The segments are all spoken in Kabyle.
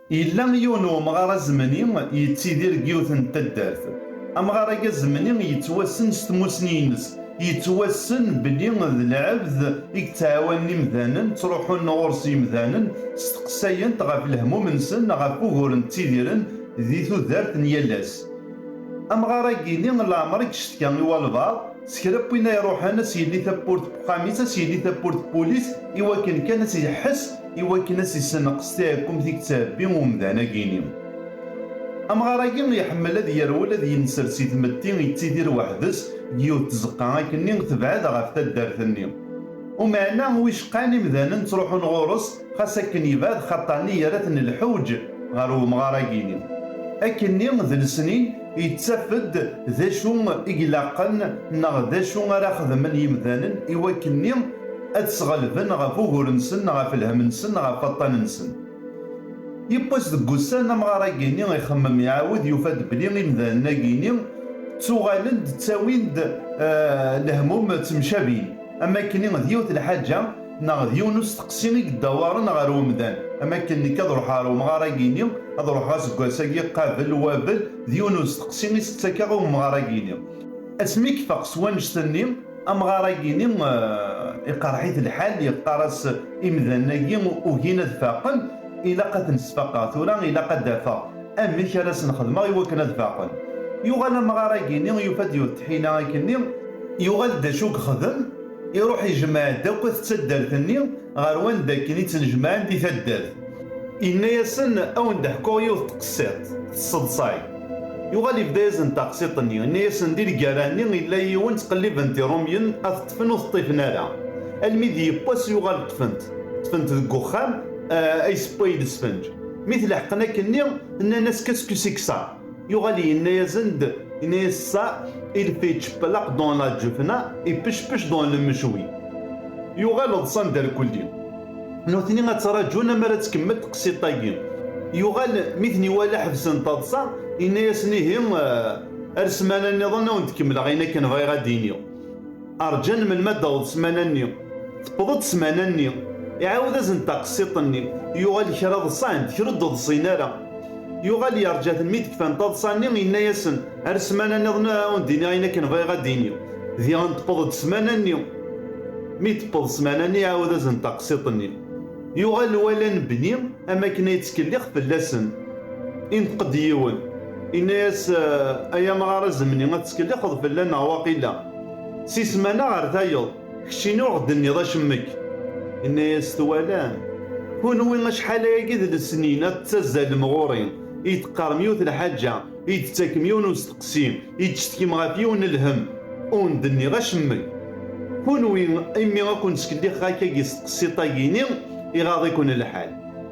Yella yiwen n wemɣar azemni yettidir deg yiwet n taddart. Amɣar-agi azemni yettwassen s tmussni-ines, yettwassen belli d lɛebd i yettɛawanen imdanen, ttruḥun ɣur-s yimdanen, steqsayen-t ɣef lehmum-nsen, ɣef wuguren ttidiren di tudert n yal ass. Amɣar-agi-ni leɛmer i yeccetka i walbaɛḍ, s kra n win ay iruḥen, as yelli tawwurt n uxxam-is, as yelli tawwurt n wul-is, iwakken kan ad t-iḥess, i wakken ad s-issenqes tiɛekkumt i yettɛebbi umdan agini. Amɣar-agi iḥemmel ad yerwel ad yenser si tmetti yettidir weḥd-s deg yiwet n tzeqqa akkenni tebɛed ɣef taddart-nni. Umeɛna wicqan imdanen ttruḥun ɣur-s xas akken yebɛed xaṭanni yerra-ten lḥewǧ ɣer wemɣar agini. Akkenni d lesnin Yettaf-d d acu i ilaqen neɣ d acu ara xedmen yimdanen i wakkenni ad d-sɣelben ɣef ugur-nsen, ɣef lhem-nsen, ɣef waṭṭan-nsen. Yiwwas deg wussan, amɣar-agini ixemmem iɛawed yufa-d belli imdanen-agini ttuɣalen-d ttawin-d lehmum ttemcabin, am wakkenni d yiwet lḥaǧa, Neɣ d yiwen usteqsi i yeddawaren ɣer umdan, am akken nekk ad ruḥeɣ ɣer umɣar-agi-ni, ad ruḥeɣ aseggas-agi qabel wabel, d yiwen usteqsi i s-ttakeɣ i umɣar-agi-ni. Asmi i yeffeɣ s wannect-nni, amɣar-agi-ni iqerreḥ-it lḥal, yeqqar-as imdanen-agi ugin ad faqen, ilaq ad ten-sfaqeɣ tura, ilaq ad d-afeɣ amek ara sen-xedmeɣ i wakken ad faqen. Yuɣal amɣar-agi-ni yufa-d yiwet tḥila akkenni, yuɣal d acu yexdem, Iruḥ ijemɛ-d akk at taddart-nni ɣer wanda akken i ttnejmaɛen di taddart. Yenna-yasen, A wen-d-ḥkuɣ yiwet n tqessiṭ, tesseḍsay. Yuɣal yebda-yasen taqsiṭ-nni, yenna-yasen, Di lgerra-nni yella yiwen ttqelliben-t Irumyen, ad t-ṭṭfen ur t-ṭṭifen ara. Almi d yiwwas yuɣal ṭṭfen-t. Ṭṭfen-t deg uxxam, a yessewway lesfenǧ. Mi t-leḥqen akkenni, nnan-as, Qu'est-ce que c'est que ça? Yuɣal yenna-yasen-d, yenna-yas ça il fait tchepelaq dans la djufna et pechpech dans le mejwi. Yuɣal ḍsan derkulli. Nutni ad ttraǧun amar ad tkemmel tqsiṭ-agi. Yuɣal mi ten-iwala ḥebsen taḍsa, yenna-yasen ihi ar ssmana-nniḍen ad wen-d-kemmleɣ ayen akken bɣiɣ ad d-iniɣ. Rǧan melmi ad d-taweḍ ssmana-nni. Tewweḍ-d ssmana-nni. Iɛawed-asen-d taqsiṭ-nni. Yuɣal kra ḍsan-d, kra ur d-ḍsin ara. Yuɣal yerǧa-ten mi d-kfan taḍsa-nni, yenna-yasen, Ar ssmana niḍen ad awen-d-iniɣ ayen akken bɣiɣ ad d-iniɣ. Diɣen tewweḍ-d ssmana-nni. Mi d-tewweḍ ssmana-nni iɛawed-asen-d taqsiṭ-nni. Yuɣal lwali anebni am wakken ad yettkellix fell-asen. Ineṭq-d yiwen, yenna-yas, Ay amɣar azemni ad tettkellixeḍ fell-aneɣ waqila. Si ssmana ɣer tayeḍ, keččini ur ɣ-d-tenniḍ acemmek. Yenna-yas, Twalam, kunwi acḥal ayagi d lesnin ad tettazzalem ɣur-i, i yi-d-teqqarem yiwet n lḥaǧa, i yi-d-tettakem yiwen n usteqsi, i yi-d-tettkem ɣef yiwen n lhemm, ur wen-d-nniɣ acemmek. Kunwi, imi i ken-ttkellixeɣ akkagi s tqessiṭ-agi-ini, iɣaḍ-iken lḥal.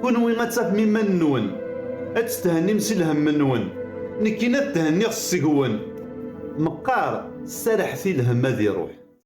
Kunwi ad tafem iman-nwen, ad tetthennim si lhemm-nwen, nekkini ad thenniɣ seg-wen. Meqqar, serrḥet i lhemm ad iruḥ.